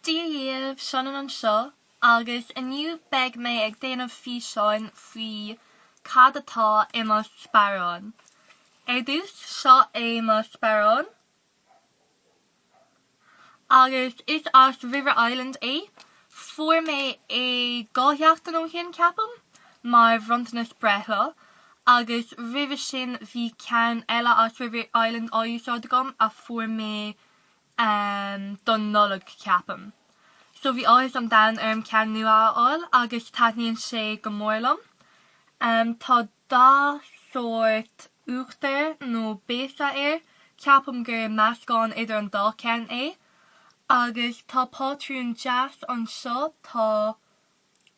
Dia dhaoibh, Seanán anseo, agus inniu beidh mé ag déanamh físeáin faoi cad atá i mo sparán. Ar dtús, seo é mo sparán, agus is as River Island é. Fuair mé é dhá sheachtain ó shin, ceapaim, mar bhronntanas breithlá, agus roimhe sin bhí ceann eile as River Island á úsáid agam a fuair mé amh don Nollaig ceapaim. So bhí áthas an domhain orm ceann nua a fháil agus taitníonn sé go mór liom. Tá dath sórt uachtar nó béasa air, ceapaim gur meascán idir an dá ceann é. Agus tá pátrún deas anseo, tá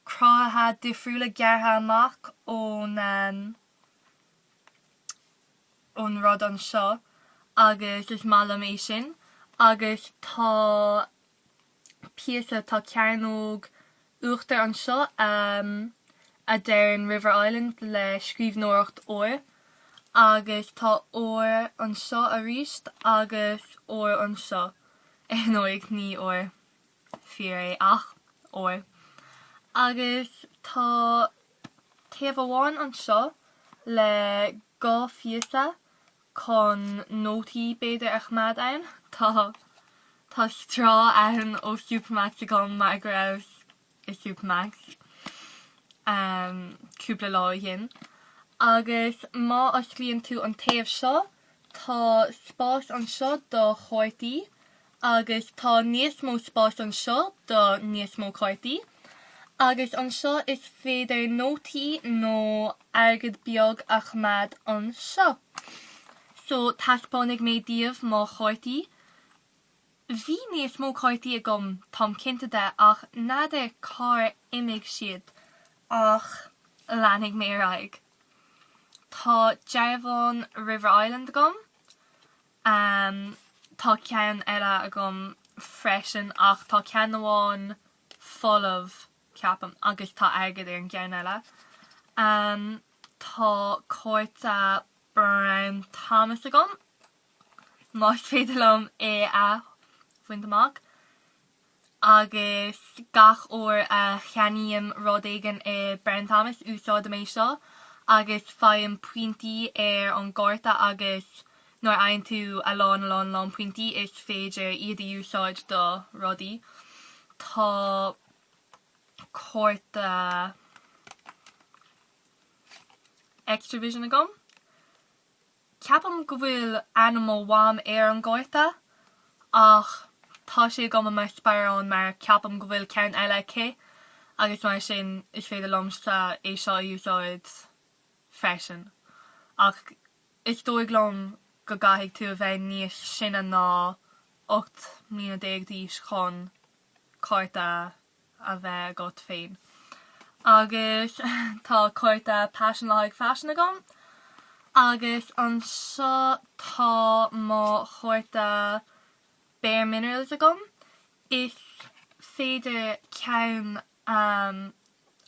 cruthaithe difriúla gearrtha amach ón. ón rud anseo agus is maith liom é sin agus tá píosa, tá cearnóg uachtar anseo a deireann River Island le scríbhneoireacht óir agus tá ór anseo arís agus ór anseo, ar ndóigh ní ór fíor é ach ór, agus tá. Taobh amháin anseo le dhá phíosa chun nótaí b'fhéidir a choimeád ann, tá tá straw ann ó Supermac's agam mar go rabhas i Supermac's cúpla lá ó shin. Agus má osclaíonn tú an taobh seo, tá spás anseo do chártaí Agus tá níos mó spáis anseo do níos mó cártaí. Agus anseo is féidir nótaí nó airgead beag a choimeád anseo. So taispeánfaidh mé daoibh mo chártaí. Bhí níos mó cártaí agam, táim cinnte de, ach n'fheadar cár imigh siad. Ach leanfaidh mé ar aghaidh. Tá dearbhán River Island agam. Ámh, tá ceann eile agam freisin, ach tá ceann amháin folamh, ceapaim, agus tá airgead ar an gceann eile. Ámh, tá cárta Brown Thomas agam, más féidir liom é a bhaint amach. agus gach uair a cheannaím rud éigin i Brown Thomas úsáidim é seo agus faighim pointí ar an gcárta agus nuair a fhaigheann tú a lán a lán a lán pointí is féidir iad a úsáid do rudaí. Tá cárta Xtra-Vision agam. Ceapaim go bhfuil ainm mo mham ar an gcárta, ach tá sé agam i mo sparán mar ceapaim go bhfuil ceann eile aici agus mar sin is féidir liomsa é seo a úsáid freisin. Ach is dóigh liom go gcaithfidh tú a bheith níos sine ná 18 mbliana d'aois chun. cárta a bheith agat féin. Agus tá cárta Paisean le haghaidh Faisean agam. Agus anseo tá mo chárta Bare Minerals agam. Is féidir ceann a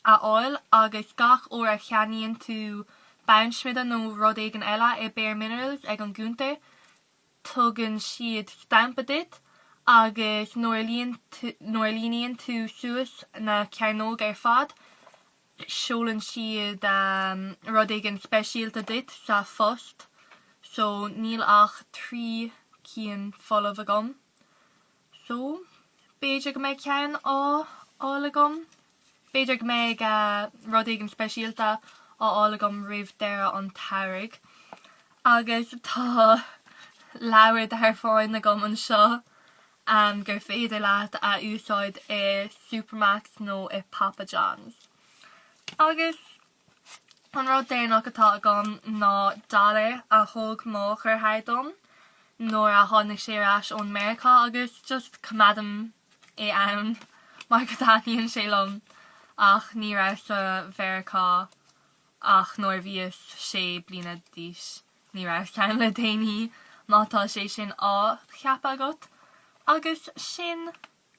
fháil agus gach uair a cheannaíonn tú bonnsmideadh nó rud éigin eile i Bare Minerals ag an gcúntar. tugann siad stampa duit agus nuair a líon tú, nuair a líonann tú suas na cearnóga ar fad, seolann siad rud éigin speisialta duit sa phost. So níl ach trí cinn folamh agam. So, b'fhéidir go mbeidh ceann á fháil agam. B'fhéidir go mbeidh rud éigin speisialta á fháil agam roimh deireadh an tsamhraidh. Agus tá leabhar dearbháin agam anseo gur féidir leat a úsáid i Supermac's nó i Papa John's. Agus. An rud deireanach atá agam ná dollar a thug mo dheartháir dom nuair a tháinig sé ar ais ón Meiriceá agus just coimeádaim é ann mar go dtaitníonn sé liom ach ní rabhas sa Mheiriceá ach nuair a bhíos sé bliana d'aois. Ní rabhas ann le déanaí, má tá sé sin á cheapadh agat. Agus sin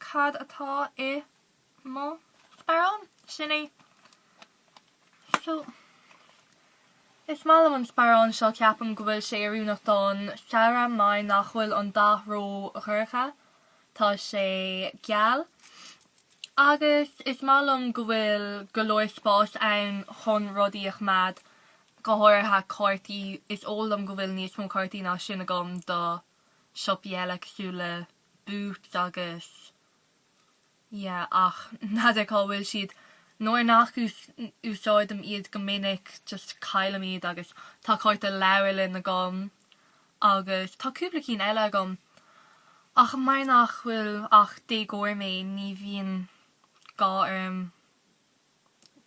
cad atá i. mo sparán. Sin é. So, is maith liom an sparán seo, ceapaim go bhfuil sé oiriúnach don samhradh mar nach bhfuil an dath ró-dhorcha, tá sé geal agus is maith liom go bhfuil go leor spáis ann chun rudaí a choimeád, go háirithe cártaí, is eol dom go bhfuil níos mó cártaí ná sin agam do siopaí eile cosúil le Boots agus. yeah ach n'fheadar cá bhfuil siad. nuair nach úsáidim iad go minic just caillim iad agus tá cárta leabharlainn agam agus tá cúpla cinn eile agam ach mar nach bhfuil ach déagóir mé ní bhíonn gá orm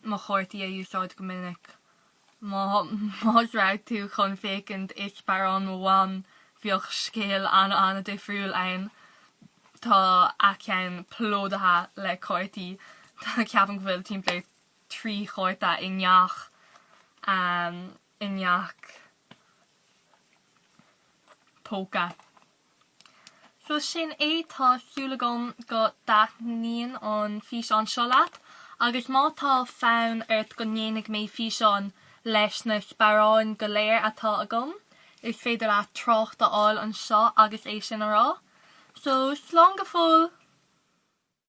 mo chártaí a úsáid go minic. Má raibh tú chun féachaint i sparán mo mham bheadh scéal an-an-difriúil ann. Tá a ceann plódaithe le cártaí. Ceapaim go bhfuil timpeall ar trí chárta i ngach i ngach póca. So sin é, tá súil agam go dtaitníonn an físeán seo leat, agus má tá fonn ort go ndéanfaidh mé físeán leis na sparáin go léir atá agam, is féidir leat trácht a fhágáil anseo agus é sin a rá. So, slán go fóill!